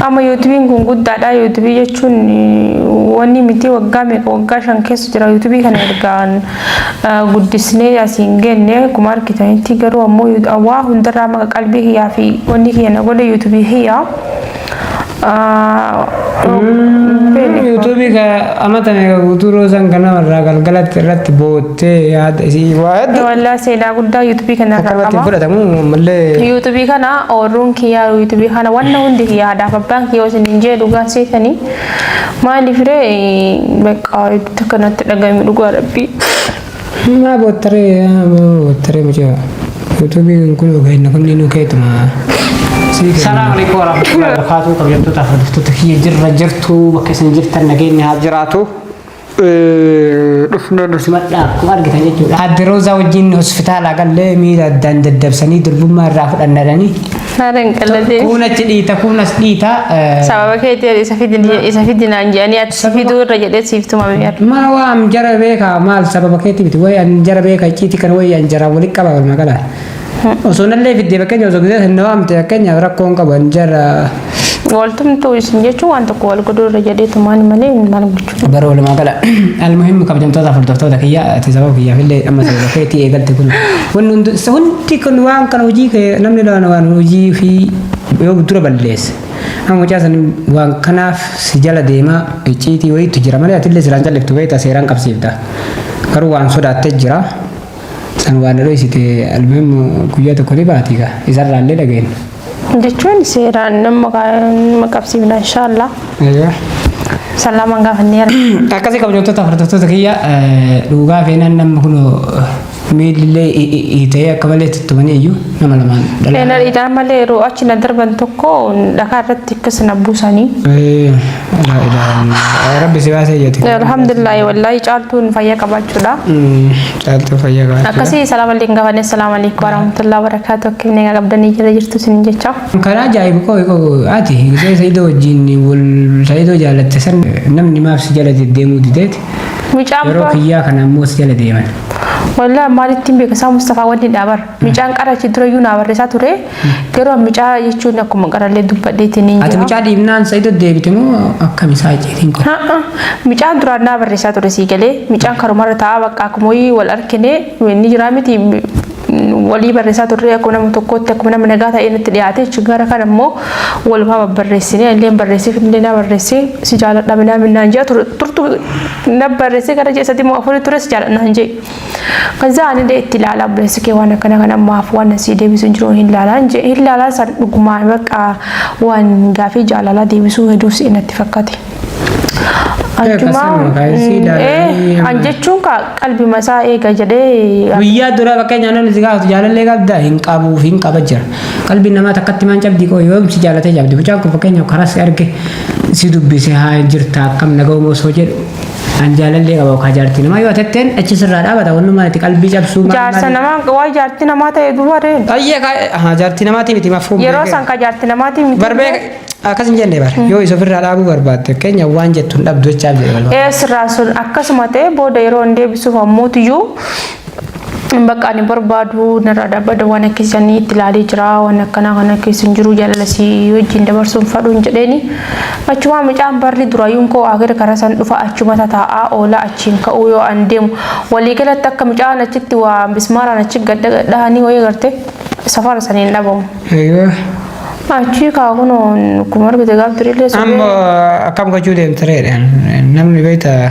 Amma yuutubiin kun guddaadha. Yuutubii jechuun wanni miti waggaa meeqa waggaa shan keessa jira yuutubii kana ergaan guddisnee asiin genne akkuma argitanitti garuu ammoo waa hundarraa maqa qalbii kiyyaa fi wanni kiyya na godhe yuutubii kiyya. Yuutubii amata meeqa guutuu roosaan ganama irraa galgalatti irratti booda. Tee yaada isii waa heddu Wallah seenaa guddaa yuutubii kanarraa akkanumatti hin qaba. fudhatamu ammallee Yuutubii kana ooruun kiyyaa yuutubii kana wanna hundi kiyyaa haadhaaf abbaan kiyyaa isin hin jee dhugaa seetanii maaliif ree beqqaa itti kanatti dhagahame dhugaa rabbii. maa boottaree yaa maa boottaree mucaa yuutuubiin kun ogeeyna kunniinuu keetuma sii kenna. Salaam alaikum warahmatullahi wabarakatuh. Kabajamtoota hordoftoota kiyya jirra jirtu bakka isin jirtan nageenyi haa jiraatu. dhufna nu simadhaa akkuma argitan jechuudha. Adde Roozaa wajjin hospitaalaa gallee miila addaan daddabsanii durbummaa irraa fudhannadhanii. Haala hin qalladee. Kuun achi dhiita kuun as dhiita. Sababa keetiin isa fidin isa fidinaan jedhanii ati si fiduu irra jedhee siif tumame yaa. Maa waan jara beekaa maal sababa keetii miti wayi an jara beekaa icciitii kana wayi an jara walitti qaba walumaa gala. Osoo nallee fiddee fakkeenya osoo gisee sin nawaamte fakkeenyaaf rakkoon qaban jara. Waltumtuu isin jechuun waan tokko wal godhuu irra jedhee tumaan malee maal gochuu. Bara walumaa gala almuhimmi kabajamtoota hordoftoota kiyya ati sababa kiyyaaf illee amma sababa keetii eegalte kun wanni hundi hundi kun waan kana hojii kee namni waan waan hojii fi yoo dura balleesse amma mucaa san waan kanaaf si jala deemaa icciitii wayiitu jira malee ati illee siraan calliftu beekta seeraan qabsiifta garuu waan sodaattee jira. San waa na dhoysite almuhim guyyaa tokko ni baati gaa isarraa illee dhagayne. Jechuun seeraan nama ma qabsiifna inshaallah. Aywa. San lamaan gaafanneera. Akkasii kabajamtoota hordoftoota kiyya dhugaa feenaan namni kun miilillee hiitee akka malee tuttumanii iyyuu nama lamaan Feena dhalaa. dhiitaa malee yeroo achi na darban tokko dhakaa irratti akkas na buusanii. Eh, Laa ilaaha illallah. Rabbi si baasee jetti. Alhamdulillah wallahi caaltuun fayyaa qabaachuudha. Caaltuu fayyaa qabaachuudha. Akkasii salaam alaikum gafanee salaam alaikum warahmatullahi wabarakatuh akkam nagaa qabdanii jala jirtu sin jecha. Karaa ajaa'ibu koo koo ati hidhee Saidoo wajjin wal Saidoo jaalatte san namni maaf si jala deddeemuu dideeti. Mucaan Yeroo kiyyaa kana ammoo si jala deeman. Wallahi maalittiin beekasaa Mustafaa wanni dhaabar. Micaan qara achi dura iyyuu naa barreessaa ture. Garuu an micaa jechuun akkuma qarallee dubbadheetiin hin Ati jira. mucaa dhiibnaan sa'ido deebite moo akkami isaa icciitiin kun? Ha'a, Micaan duraan naa barreessaa ture sii galee micaan karumarra taa'aa bakka akkuma wayii wal argine ni jiraa miti mm, walii barreessaa turre akkuma nama tokkootti akkuma nama nagaa ta'ee natti dhiyaate jechuun gara kana immoo walumaa babbarreessine illee barreessee illee naa barreessee si jaaladha minaa minnaan jaa turtu na barreessee gara ji'a sadii moo afurii ture si jaaladha hin jee. Kazaa ani illee itti ilaalaa obboleessi kee waan akkana kana maaf waan asii deebisuun jiru hin laalaan jee hin laalaa san dhugumaa bakka waan gaafii jaalalaa deebisuu heduu si natti fakkate. Akkasuma kaayisii ilaalanii An jechuun kaa qalbii masaa eega jedhee guyyaa dura bakka jaalala si gaafatu jaalallee qabda hin qabuuf hin qaba jira qalbii namaa takkatti maan cabdii koo yoom si jaalatee cabdi mucaan kun fakkeenyaaf karaa si arge si dubbise haa jirta akkam naga'uma osoo jedhu An jaalallee qaba okaa jaartii namaa yoo atetteen achi sirraa dhaabata wannumaan itti qalbii cabsuu maal Jaarsa maal- namaa waa jaarti namaa ta'e duuba reen. Ayyee kaa ahaa jaartii namaatii miti mafuun Yeroo beekee. san ka jaarti namaatii miti. Barbee akkas hin jenne bara yoo isa ofirraa dhaabuu barbaadde keenya waan jettu hin dhabdu jechaaf jedhe balbala. Ee sirraa sun akkasuma ta'e booda yeroo hin deebisuuf ammuutiyyuu Bakka ani barbaadu narraa dhaabbadha waan akkasiisanii itti ilaalee jira waan akkanaa kana keessa hin jiru jaalala si wajjin dabarsuun fadhuun jedheeni achumaa mucaan barri duraayyuun koo akira karaa san dhufa achuma tataa'aa oolaa achiin ka'uu yoo an deemu waliigalatti akka mucaan achitti waa mismaaraan achi gadhahanii wayii garte safara saniin dhabamu. Egaa Achii kaa kunoon kuma argite gaaf durillee sobee. amma akkam gochuu deemtireedha namni beektaa.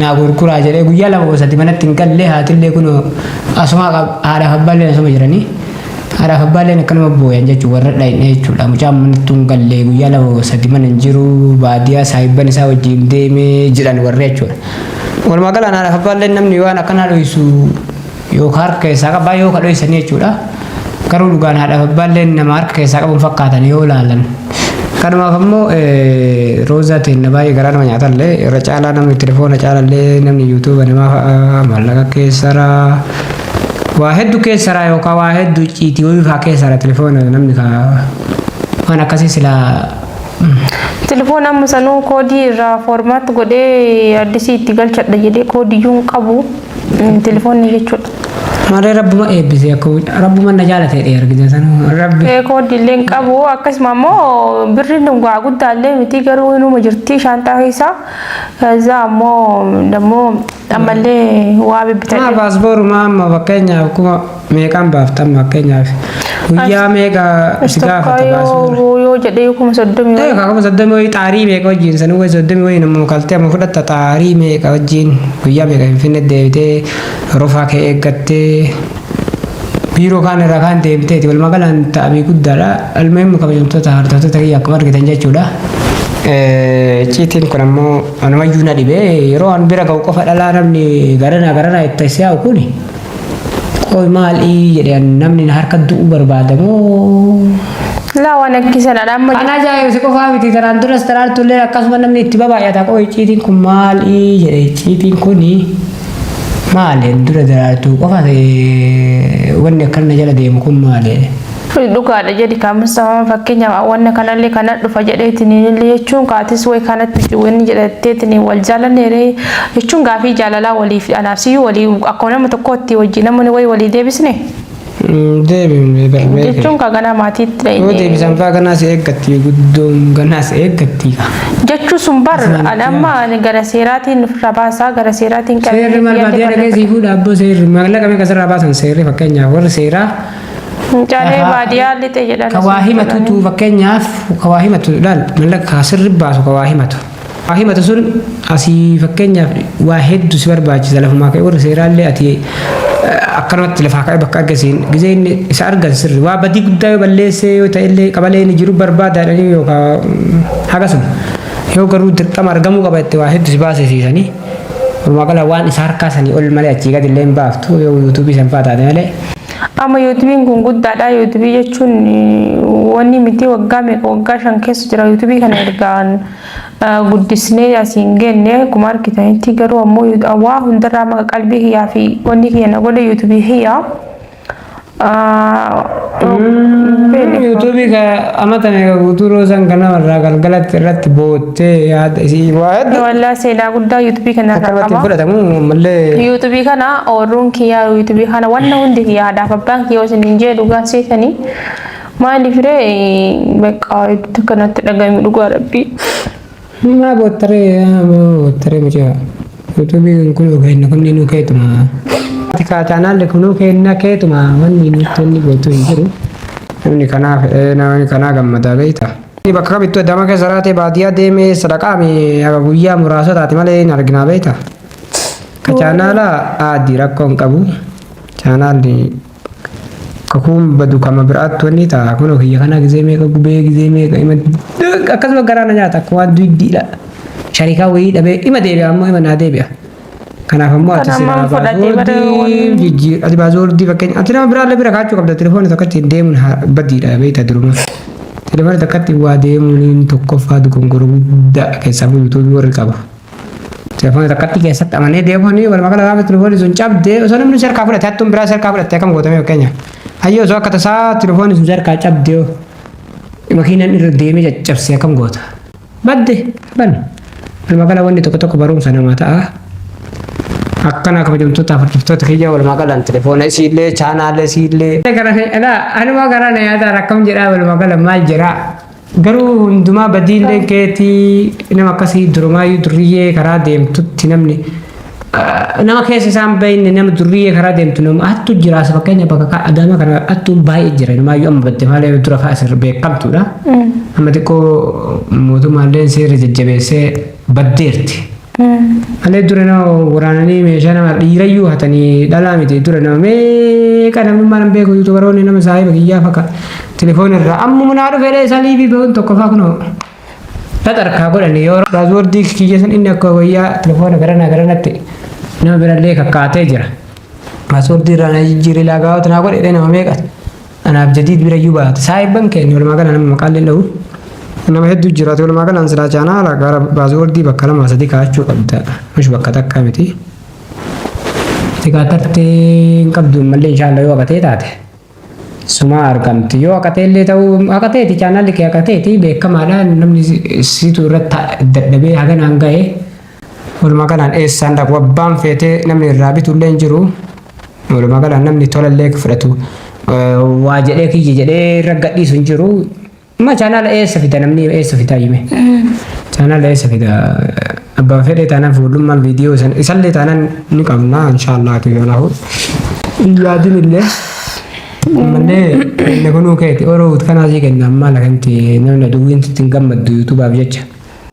naa gurguraa jedhee guyyaa lama moo sadii manatti hin galle haatillee kunoo asuma qab- haadhaaf abbaalleen asuma jiranii haadhaaf abbaalleen akkanuma booyan jechuun warra dhayne jechuudha mucaan manatti hin galle guyyaa lama moo sadii mana hin jiru baadiyaa saahibban isaa wajjin deemee jedhan warri jechuudha walumaa galaan haadhaaf abbaalleen namni waan akkanaa dhoysu Yoo ka harka keessaa qabaa yoo ka dhoysanii jechuudha. Garuu dhugaan haadhaaf abbaalleen nama harka keessaa qabuun fakkaatan yoo laalan. Kanumaaf ammoo roozaa teenna baay'ee garaa nama nyaatallee irra caalaa namni telefoona caalallee namni yuutuuba namaa fa'a maallaqa keessaraa waa hedduu keessaraa yookaan waa hedduu ciitii wayii fa'aa keessaraa telefoona namni ka waan akkasii silaa Telefoon amma sanuu koodii irraa foormaatti godhee addisii itti galchadha jedhee koodiyyuu hin qabu. Telefoonni jechuudha. Malee rabbuma eebbisee akka rabbuma na jaalatee dhee argite san rabbi. Kooddi illee hin qabu akkasuma immoo birriin waa guddaa illee miti garuu inuma jirti shaanxaa keessa. Kazaa ammoo dammoo ammallee waa Maa bibbitan. baasbooruma amma fakkeenyaaf kuma meeqaan baafta amma fakkeenyaaf guyyaa meeqa si Tokko gaafata yoo baasuun dura yoo jedhee yoo kuma soddomii ta'e wayii. kakuma soddomii wayii xaarii meeqa wajjin sanuu wayii soddomii wayii nama kaltee amma fudhatta xaarii meeqa wajjin guyyaa meeqa finfinne deebitee rofaa kee eeggattee biiroo kaan irraa kaan deebiteeti walumaa galaan ta'abii guddaadha almuhimmi kabajamtoota hordoftoota kiyya akkuma argitan jechuudha. Eh, Icciitiin kun ammoo anumayyuu na dhibee yeroo an bira ga'u qofa dhalaa namni garanaa garanaa itti si'aa'u kuni Qoy maal ii jedhe an namni na harka du'u barbaada moo? Laa waan akkii sanadha amma Kan ajaa'ibu si qofaa miti tanaan duras taraartu illee akkasuma namni itti babaay'ata qoy icciitiin kun maal ii jedhe icciitiin kuni maali an dura daraartuu qofa ta'e wanni akkana na jala deemu kun maali? Dhugaadha jedhi kaa Mustafaan fakkeenyaaf wanna kanallee kana dhufa jedheetiniin illee jechuun kaatis way kanatti jiru inni jedhatteetiniin wal jaalanneere jechuun gaafii jaalalaa waliif anaaf siyyuu walii akkuma nama tokkootti wajjin namni way walii deebisne Deebifne darbee kee. jechuun kaa ganaa maatiitti Yoo dhayne deebisan faa ganaas eeggatti guddoon ganaas eeggatti kaa. jechuu sun bar ani amma ani gara seeraatiin ofirraa baasaa gara seeraatiin Seerri maal baadiyyaa dhagee sii fuudha abboo seerri maallaqa meeqa sirraa baasan seerri fakkeenyaaf warri seeraa Mucaalee baadiyyaa lixe jedhan. Ka waa himatutu fakkeenyaaf ka waa himatu laal mallaqa kaa sirri baasu ka waa himatu. Waa himatu sun asii fakkeenyaaf waa heddu si barbaachisa lafumaa ka'e warri seeraallee ati akkanumatti lafaa ka'e bakka argisiin gizee inni isa argan sirri waa badii guddaa yoo balleessee yoo ta'ellee qabalee inni jiru barbaadaadhanii yookaan hagasuma yoo garuu dirqama argamuu qaba itti waa heddu si baasisiisanii. Walumaa gala waan isa harkaa sanii ol malee achii gadi illee hin baaftu yoo yuutuubii san fa'aa taate malee. Amma yuutubiin kun guddaadha. Yuutubii jechuun wanni miti waggaa meeqa waggaa shan keessa jira yuutubii kana ergaan guddisnee asiin genne akkuma argitanitti garuu ammoo waa hundarraa maqa qalbii kiyyaa fi wanni kiyya na godhe yuutubii kiyya. Yuutubii ka amata meeqa guutuu roosaan ganama irraa galgalatti irratti booda. Tee yaada isii waa hedduu Wallah seenaa guddaa yuutubii kana irraa akkanumatti hin qaba. fudhatamu mallee Yuutubii kana ooruun kiyyaa yuutubii kana wanna hundi kiyyaa haadhaaf abbaan kiyyaa isin hin jee dhugaa seetanii maaliif ree beekaa itti kanatti dhagahame dhugaa rabbii. maa boottaree yaa maa boottaree mucaa yuutuubiin kun kenna kunni nuu keetuma tikaa chaanaalli kunuu kenna keetuma wanni nutti inni gootu hin jiru namni kanaaf eh, namni kanaa gammadaa beektaa. Ani bakka kamittuu Adaamaa keessa jiraatee baadiyyaa deemee sadaqaame haga guyyaa muraasa taate malee hin arginaa beekta. Ka chaanaala aadi rakkoo hin qabu. Chaanaalli kakuun badu kama biraatti wanni ta'a kun kiyya kana gizee meeqa gubee gizee meeqa ima akkasuma garaa na nyaata akkuma duydiidha. Sharikaa wayii dhabee ima deebi'a ammoo ima naa deebi'a. Kanaaf ammoo ati Kan silaa ammaan fudhatee bara baasooddii wanni- jijjiir ati baasooddii fakkeenya ati nama biraallee bira kaachuu qabda telefoona tokkotti deemuun haa badiidha beekta duruma. Telefoona tokkotti waa deemuun tokkoffaa dogongora guddaa keessaa bu'u yuutuubii warri qabu. Telefoona tokkotti keessatti amanee deemuun walumaa gala gaafa telefoonni sun cabdee osoo namni si harkaa fudhate hattuun biraa si harkaa fudhate akkam gootame fakkeenya. Hayyoo osoo akka tasaa telefoonni sun si harkaa cabdee makiinaan irra deemee caccabsee akkam goota. Madde bani. Walumaa gala wanni tokko tokko barumsa namaa ta'a. Akkana kabajamtoota hordoftoota kiyya walumaa galaan telefoona isiillee chaanaalee isiillee. Gara alaa anuma gara na yaadaa rakkam jedhaa walumaa gala maal jedhaa. Garuu hundumaa badiillee keetii nama akkasii durumaayyuu durriyyee karaa deemtutti namni nama keessa isaan bahinne nama durriyyee karaa deemtu nama hattu jiraas fakkeenya bakka kaa adaama kana hattuun baay'ee jira numaayyuu amma batte maalee dura kaa asirra beekamtuudha amma xiqqoo mootummaallee seera jajjabeessee baddeerti malee dura nama waraananii meeshaa nama dhiirayyuu hatanii dhalaa miti dura nama meeqa namummaa nan beeku yuutubaroonni nama saahiba kiyyaa fakka telefoona irraa ammuma naa dhufeedha isaa liivii bahuun tokko faa kunoo Xaxarkaa godhani yoo paaswordii kiyya san inni akka wayyaa telefoona garanaa garanatti nama birallee kakkaatee jira. Paaswordii irraa na jijjiiree laagaawot naa godhe illee nama meeqa anaaf jadiid bira iyyuu baate. Saahibban keenya walumaa gala nama maqaan illee dhahu. Nama hedduu jiraate walumaa galaan silaa chaanaa ala gara paaswordii bakka lama sadii kaa'achuu qabda. Mush bakka takka miti. Itti kaatartee hin qabdu malee inshaallah yoo agatee taate. Sumaa argamti yoo haqateellee ta'uu haqateeti chaanaalli kee haqateeti beekamaadha namni siitu irratti dadhabee haganaan ga'e walumaa galaan eessaan dhaqu abbaan feetee namni irraa bitullee hin jiru walumaa galaan namni tolallee fudhatu waa jedhee kiyya jedhee irra gadhiisu hin jiru Ma chaanaala eessa fida namni eessa fida hime. Chaanaala eessa fida abbaa fedhee taanaan fuullummaan viidiyoo san isallee taanaan ni qabna inshaallah ati yoo nahu. Yaadin illee ammallee inni kunuu keeti oroo kanaa sii kenna ammaa lakanti namni aduwwiin sitti hin gammaddu yuutuubaaf jecha.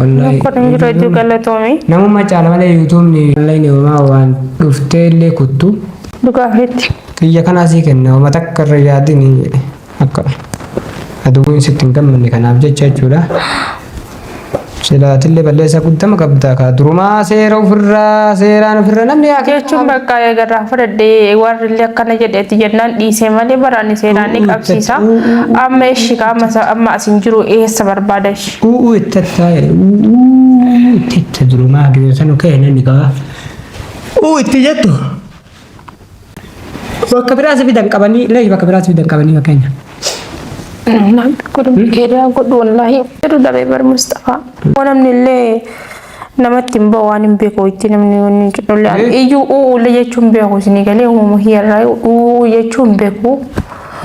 Wallaahi. Kun jiru hedduu galatoomi. Namummaa caala malee yuutuubni online homaa waan dhuftee illee kuttu. Dhugaa feetti. Xiyya kanaa sii kenna homa takka irra yaadin jedhe. Akka aduwwiin sitti hin gammanne kanaaf jecha jechuudha. Silaatillee balleessaa guddama qabda kaa durumaa seera ofirraa seeraan ofirra namni haa jechuun bakka eegarraa fudhadhee warri illee akkana jedheeti jennaan dhiisee malee baraanni seeraan ni qabsiisa. Amma eshi qaama isa amma asin jiru eessa barbaada eshi. Uuu itti attaa uuu itti itti durumaa gibeessanu ka'e namni qaba. Uuu itti jettu Bakka biraa si fidan qabanii illee bakka biraa si fidan qabanii fakkeenya. Naan godhu keedaa godhu wallaahi jedhu dhabee bar Mustafaa. Waan namni illee namatti hin bahu waan hin beeku itti namni wanni hin jedhu illee iyyuu uuu illee jechuun beeku isinii galee uumama hiyyarraa uuu jechuun beeku.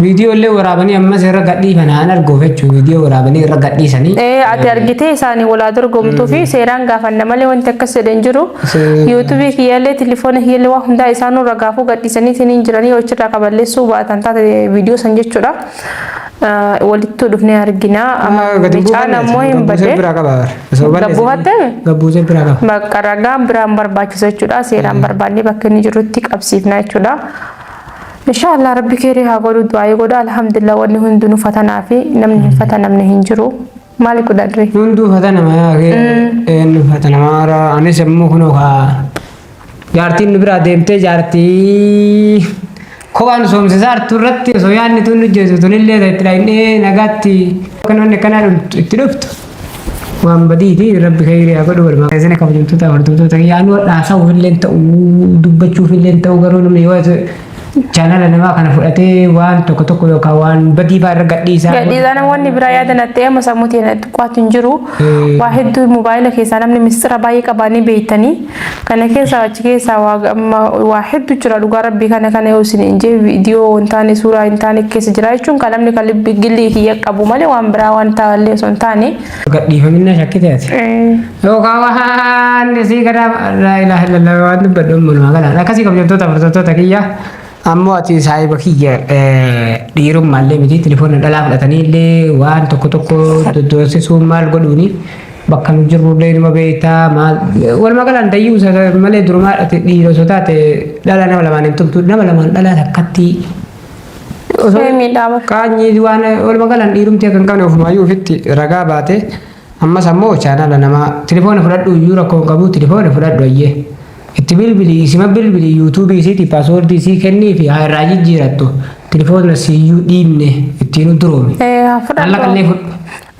Viidiyoo illee waraabanii ammas irra gadhiifan haan arguuf jechuun viidiyoo waraabanii irra gadhiisanii. Ee ati argitee isaanii walaa dorgomtuu fi seeraan gaafanna malee wanti akkas jedhe hin jiru. Se- Yuutuubii kiyyaallee tilifoona kiyyaallee waa hundaa isaanuu ragaafuu gadhiisanii isiniin jiranii yoo achirraa kaballeessuu baatan taate viidiyoo san jechuudha. Ah, Walittuu dhufnee argina. Amma bicaan ammoo hin badde. biraa qaba. Gabbuu hatte? Gabbuusee biraa qaba. Bakka ragaan biraan barbaachisa jechuudha. Seeraan barbaannee bakka inni jirutti qabsiifna jechuudha. Inshaa Allah rabbi keerii haa godhu du'aa'ii godha alhamdulillah wanni hundinu fatanaa fi namni hin fatanamne hin jiru maali godhadri. Hunduu fatanama yaa kee eenyu fatanama hara anis immoo kunoo kaa jaartiin nu biraa deemtee jaartii kophaan soomsisaa hartu irratti osoo yaadni tun hojjetu tunillee itti dhahinee nagaatti kan wanni akkanaa itti dhuftu. waan badiiti rabbi khayrii haa godhu walumaa keessana kabajamtoota hordoftoota kiyya anuu dhaasa'uuf illee ta'uu dubbachuuf illee ta'uu garuu namni yoo chaanala namaa kana fudhatee waan tokko tokko yookaan waan badii baa irra gadhiisaa Gadhiisaa namoonni biraa yaada nattee amma sammuutiin qo'atu hin jiru. Waa hedduu mobaayila keessaa namni mistira baay'ee qabaanii beektanii. Kana keessaa achi keessaa waa amma waa heddu jira dhugaa rabbii kana kana yoo isin hin jee viidiyoo hin taane suuraa hin taane keessa jira jechuun kan namni kan libbi gillii kiyya qabu malee waan biraa waan taallee osoo hin taane. Gadhiifaminna shakkite ati. Yookaan waan sii gadaa laa ilaaha illallah waan dubbadhu manumaa galaan akkasii kabajamtoota amantoota kiyya. Ammoo ati saahiba kiyya dhiirummaallee miti tilifoona dhalaa fudhataniillee waan tokko tokko doddoonsisuun maal godhuuni bakka nu jirrullee numa beektaa maal walumaa galaan dayyuu isa malee durumaa ati dhiira osoo taate dhalaa nama lamaan hin tumtu nama lamaan dhalaa takkatti osoo Ishee miidhaama. qaanyii waan walumaa galaan dhiirumti akka hin qabne ofumaayyuu ofitti ragaa baate ammas ammoo chaanala namaa tilifoona fudhadhu iyyuu rakkoo hin qabu tilifoona fudhadhu ayyee. Itti bilbili isima bilbili YouTube isiti password isii kennifi haa irraa jijjiirattu tilfoona siiyyuu dhiibne ittiinu duroomi. Ee haa fudhadhu. Mallaqallee fudhu.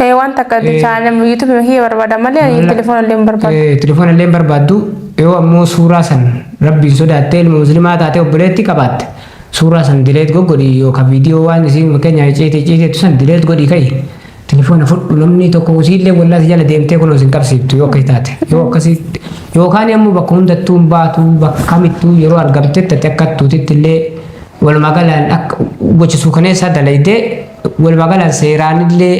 Ee waan takka Ee. chaanem YouTube ma kiyya barbaada malee ani telefoona illee hin barbaadu. Eh, Telefoona illee hin barbaaddu yoo ammoo suuraa san rabbiin sodaattee ilma muslimaa taatee obboleetti qabaatte suuraa san dileet goggodhi yookaan viidiyoo waan isiin fakkeenyaaf icciitii icciiteettu san dileet godhi ka'i Tilifoona fudhu namni tokko usiillee wallahi jala deemtee kunoo sin qabsiiftu yoo akkas taate yoo akkasii yookaan ammoo bakka hundattuu hin baatu bakka kamittuu yeroo argamtetti ati akka tuutitti illee walumaa galaan akka gocha suukaneessaa dalaydee walumaa galaan seeraan illee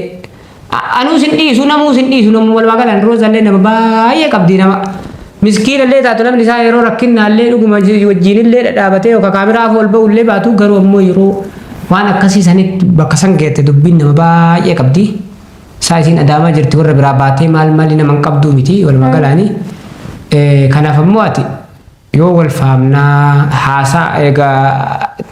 anuu sin dhiisu namuu sin dhiisu namuu walumaa galaan roozallee nama baay'ee qabdii nama Miskiina illee taatu namni isaa yeroo rakkinnaa illee dhuguma wajjiin illee dhadhaabatee yooka kaameraa afoo ol ba'uu illee baatu garuu ammoo yeroo waan akkasii sanitti bakka san geette dubbiin nama baay'ee qabdi. Isaa isiin adaamaa jirti warra biraa baatee maal maali nama hin qabduu miti walumaa galaani. Kanaaf ammoo ati yoo wal faamnaa haasaa egaa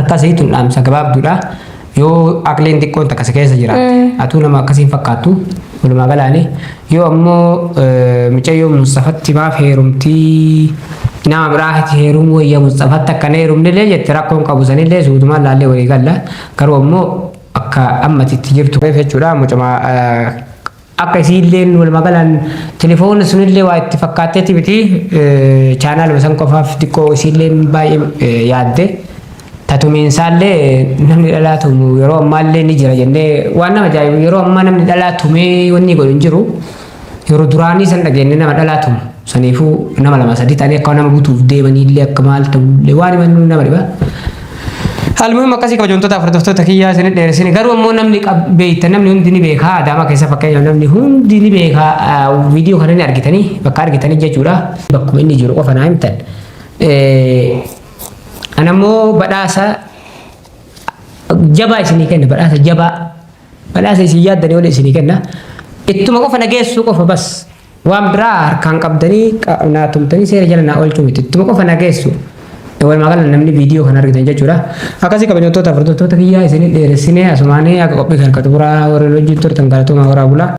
Akkasii tun dhaamsa gabaabduudha. Yoo aqliin xiqqoon takka si keessa jiraatte atuu nama akkasiin fakkaattu walumaa galaani. Yoo ammoo eh, micayyoo Musxafatti maaf heerumtii nama biraatti heerumuu wayya Musxafatti akka hin heerumnillee jette rakkoon qabu sanillee suutumaan laallee walii galla. Garuu ammoo akka ammati itti jirtu keessa jechuudha mucama eh, Akka isiilleen walumaa galaan telefoon sunillee waa itti fakkaatteeti miti chaanaaluma san qofaaf xiqqoo isiilleen baay'ee yaadde tatumiinsaallee namni dhalaa tumu yeroo ammaallee ni jira jennee waan nama ajaa'ibu yeroo ammaa namni dhalaa tumee wanni godhu hin jiru yeroo duraanii san dhageenye nama dhalaa tumu. Saniifuu nama lama sadii ta'anii akka nama butuuf deemanii illee akka maal ta'u illee waan himannu nama dhiba. Almuhim akkasii kabajamtoota hordoftoota kiyyaa isin dheeresine garuu ammoo namni beekta namni hundi ni beekaa adaamaa keessa fakkeenyaaf namni hundi ni beekaa viidiyoo kana ni argitanii bakka argitanii jechuudha bakkuma inni jiru qofa naa himtan. Anammoo badhaasa jabaa isinii kenna badhaasa jabaa badhaasa isin yaaddanii waliin isinii kenna ittuma qofa na geessuu qofa bas. Waan biraa harkaan qabdanii naa tumtanii seera jala naa oolchuu miti. Ittuma qofa na geessu. Walumaa gala namni viidiyoo kana argitan jechuudha. Akkasii kabajamtoota hordoftoota kiyyaa isin dheeressinee asumaanii akka qophii kan qaxuburaa warri hojii turtan galatoomaa horaa bulaa.